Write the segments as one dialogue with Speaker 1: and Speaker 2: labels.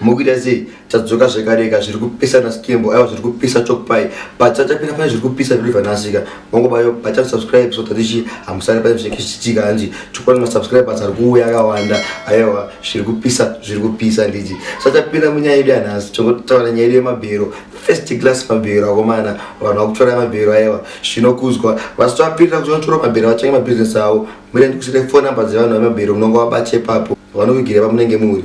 Speaker 1: mukuita sei tadzoka zvekareka zviri kupisa naskembo aiwa zviri kupisa chokpai patsatapira pane zviri kupisa viliva nasika vangobayo bata subscribe so tatichi hamusani pane zvinenge zvichiitika hanzi chokwadi masubscribers ari kuuya akawanda aiwa zviri kupisa zviri kupisa nditi satapira munyaya yedu yanhasi tongotaura nyaya yedu yemabhero first class mabhero akomana vanhu vakutora mabhero aiwa zvinokuzwa vasitapirira kuti vanotora mabhero vatange mabusiness avo murendi kusire phone number dzevanhu vemabhero munonga vabache papo vanokugira pamunenge muri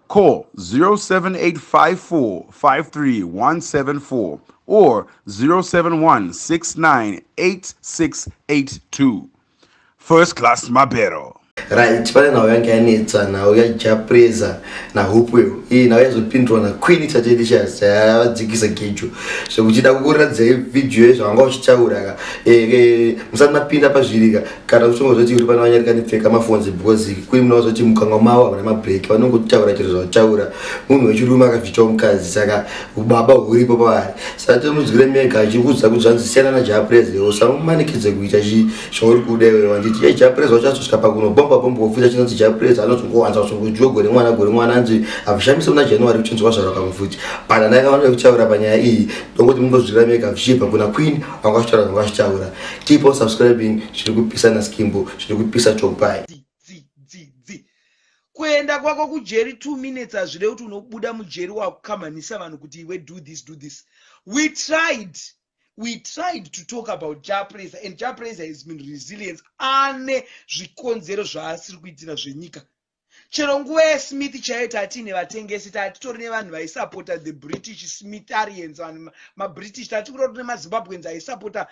Speaker 2: Call 0785453174 or 0716986682. First class Mabero. right pane nhau
Speaker 1: yange yanetsa nhau yajapreza nahupweo iyi nhau yazopindurwa naqueen chatelicious yavadzikisa gejo zvekuchida kukuratidza vhidhiyo yezvavanga uchitaura ka eh, eh, musati mapinda pazvirika kana kushonga zvoti uri pano vanyarika ndipfeka mafonzi because kuri muna vazoti mukanwa mavo havana mabreak vanongotaura chero zvakutaura munhu wechirume akabvitawo mukadzi saka ubaba huripo pavari saka tomudzwire mega achikuudza kuti zvanzi siyana najapres leo samumanikidze kuita zvauri kuda iwe wanditi ye japres wacho azosvika pakuno bomba bomba wofita chinonzi japres anozongowanza kusongojuwa gore mwana gore mwana anzi avushamise muna january kuchinzwa zvarakamufuti but anakavanoda kutaura panyaya iyi ndonguti mundozwira mega zvichibva kuna queen vanga vachitaura vanga vachitaura keep on subscribing zviri kupisa naskimbo zviri kupisa topai
Speaker 3: kuenda kwako kujeri two minutes hazvirei kuti unobuda mujeri wakukamhanisa vanhu kuti iwe do this do this we tried we tried to talk about japraiser and japraiser has been resilience ane zvikonzero zvaasiri kuitira zvenyika chero nguva yesmith chaiyo tatiine vatengesi tatitori nevanhu vaisapota the british smitharians vanhu mabritish tati kuri tine mazimbabweans aisapota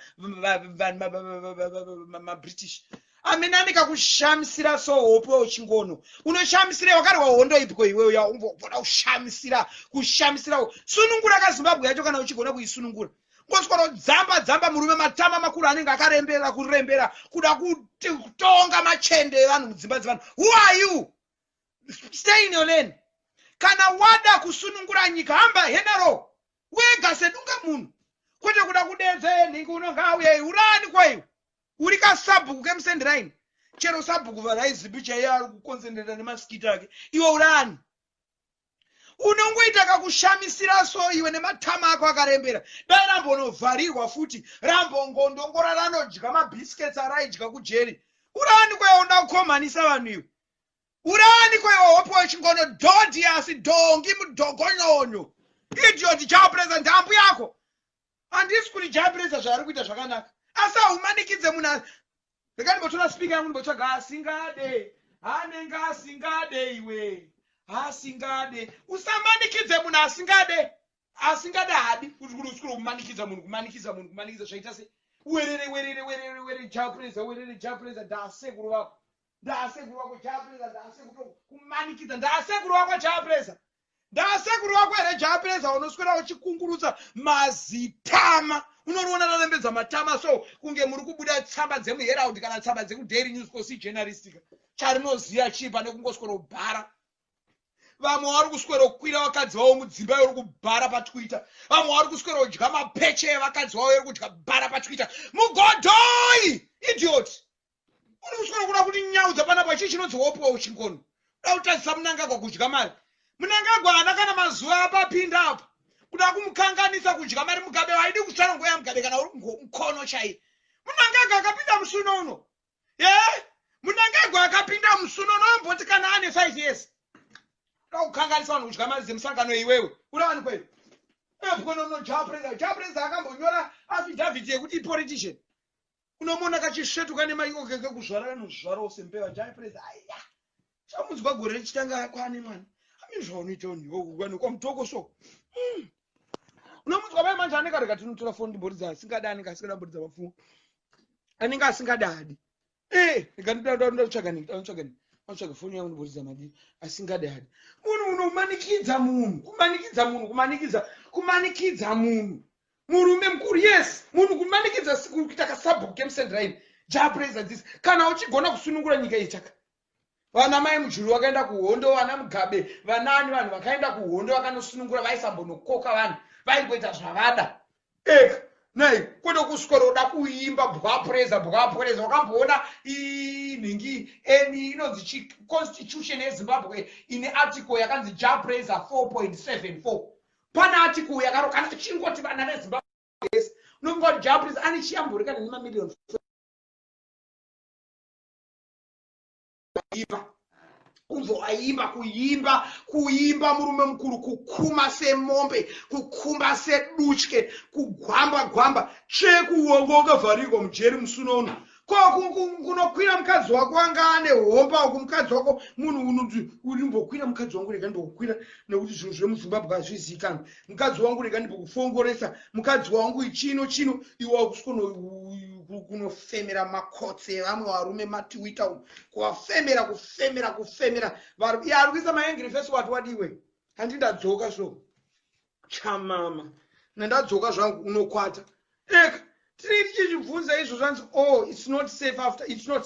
Speaker 3: mabritish amene ane kakushamisira so hope uchingono unoshamisira wakarwa hondo ipiko iwe uya umbogona kushamisira kushamisira sunungura kazimbabwe yacho kana uchigona kuisunungura koswero dzamba dzamba murume matama makuru anenge akarembera kurembera kuda kutonga machende evanhu mudzimba dzevanhu who are you stay in your lane kana wada kusunungura nyika hamba henaro wega sedunga munhu kwete kuda kudedza enhingi unonga auya urani kwaiwo uri kasabhuku kemusendiraini chero sabhuku varaizipi chaiye ari kukonzenderera nemasikiti ake iwe urani unongoita kakushamisira so iwe nematama ako akarembera dai rambonovharirwa futi rambongondongora ranodya mabiscuits araidya kujeri uraaniko yaoda kukomhanisa vanhu iwe uraaniko yehope wechingono dhodhi asi dhongi mudhogonyonyo idiot japresa ndambu yako handisi kuti japresa zvaari kuita zvakanaka asi haumanikidze munhu Rega ndimbotora speaker yangu ndimbotsvaga asingade. Anenge asingade iwe. Asingade. Usamanikidze munhu asingade. Asingade hadi kuti kuti usikuru kumanikidza munhu kumanikidza munhu kumanikidza zvaita se werere werere werere werere japreza werere japreza ndaasekuru vako ndaasekuru vako japreza ndaasekuru kumanikidza ndaasekuru vako japreza Ndaasekuru vako here Jaapeza unoswera uchikungurutsa mazitama unoriona rarembedza matama so kunge muri kubuda tsamba dzemuherald kana tsamba dzekudaily news kosi journalistika charinoziva chii pane kungoswero bhara vamwe vari kuswero kwira vakadzi vavo mudzimba yori kubhara patwitter vamwe vari kuswero dya mapeche evakadzi vavo yori kudya bhara patwitter mugodhoi idiot Uri usina kuda kuti nyaudza panapa chii chinonzi wopiwa uchingono. Kuda kutadzisa munangagwa kudya mari. Munangagwa haana kana mazuva apapinda apa. Kuda kumukanganisa kudya mari mugabe haidi kutsvara nguva yamugabe kana uri mkono chaiye. Munangagwa akapinda musuno uno. Yeah. Munangagwa akapinda musuno unomboti kana ane 5 years. Kuda kukanganisa vanhu kudya mari dzemusangano iwewe. Uri vanhu kweyo. Ebwonono Japreza. Japreza akambonyora affidavit yekuti politician. unomuona kachisvetuka nemaiko kekekuzvara kanozvarawo sembeva jaipureza aiya chamunzwa gore richitanga kwane mwana amini zvaunoita unhiwauanoka mutoko so hmm. unomunzwa mai manje anenge arega tinotora foni ndiboridza asingadi anenge asingada boridza vapfumo anenge asingadadi eh, regandatsvagatsvaga foni yangu ndiboridza madii asingadadi munhu unomanikidza munhu kumanikidza munhu kumanikidza kumanikidza munhu murume mukuru yes munhu kumanikidza kuita kasabhuku kemsendiraini japraiser this kana uchigona kusunungura nyika iyi chaka vana mai mujuru vakaenda kuhondo vana mugabe vanaani vanhu vakaenda kuhondo vakanosunungura vaisambonokoka vanhu vaingoita zvavada eka nei kwete kuswera uda kuimba bwapreza bwapreza wakamboona nhingi eni inonzi chiconstitution yezimbabwe ine article yakanzi japreza 4.74 pana article yakaro kana chingoti vana vezimbabwe yes nobody job please ani chiyamburika neni ma million iva kumboaimba kuimba kuimba murume mukuru kukuma semombe kukumba sedutye kugwamba gwamba chekuonga ukavharirwa mujeri musuno uno ko kunokwira mukadzi wako anga ane homba uku mukadzi wako munhu unoti urimbokwira mukadzi wangu rega ndimbokukwira nekuti zvinhu zvemuzimbabwe hazvizikanwa mukadzi wangu rega ndimbokufongoresa mukadzi wangu ichino chino iwe wakusikono kunofemera makotsi evamwe varume matiwita umu kuvafemera kufemera kufemera ari kuisa maengiri fesi wati wadiwe handi ndadzoka so chamama mna ndadzoka zvangu unokwata eka tinenge tichizvibvunza izvo zvanzi o oh, its not safe after its not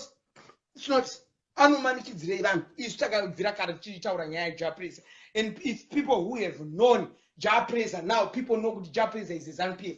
Speaker 3: its not anomanikidzirei vanhu isu takabvira kare tichitaura nyaya japresa and if people who have known japresa now people know kuti japresa is a zanupf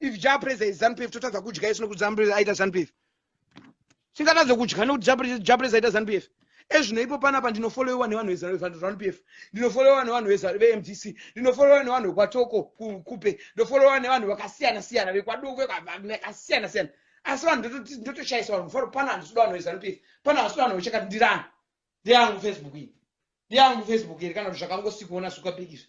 Speaker 3: if jah praise is zanu pf totadza kudya isu nekuti zanu praise aita zanu pf tingatadze kudya nekuti jah praise aita zanu pf ezvino ipo panapa ndinofolowewa nevanhu vezanu pf ndinofolowewa nevanhu vemdc ndinofolowewa nevanhu vekwatoko kupe ndofolowewa nevanhu vakasiyana siyana vekwadoko vakasiyana siyana asi vanhu ndotoshayisa vanhu mufaro pana handisuda vanhu vezanu pf pana handisuda vanhu vechakati ndirani ndeyangu facebook iyi ndeyangu facebook iri kana kuti zvakangosikuona suka big izvi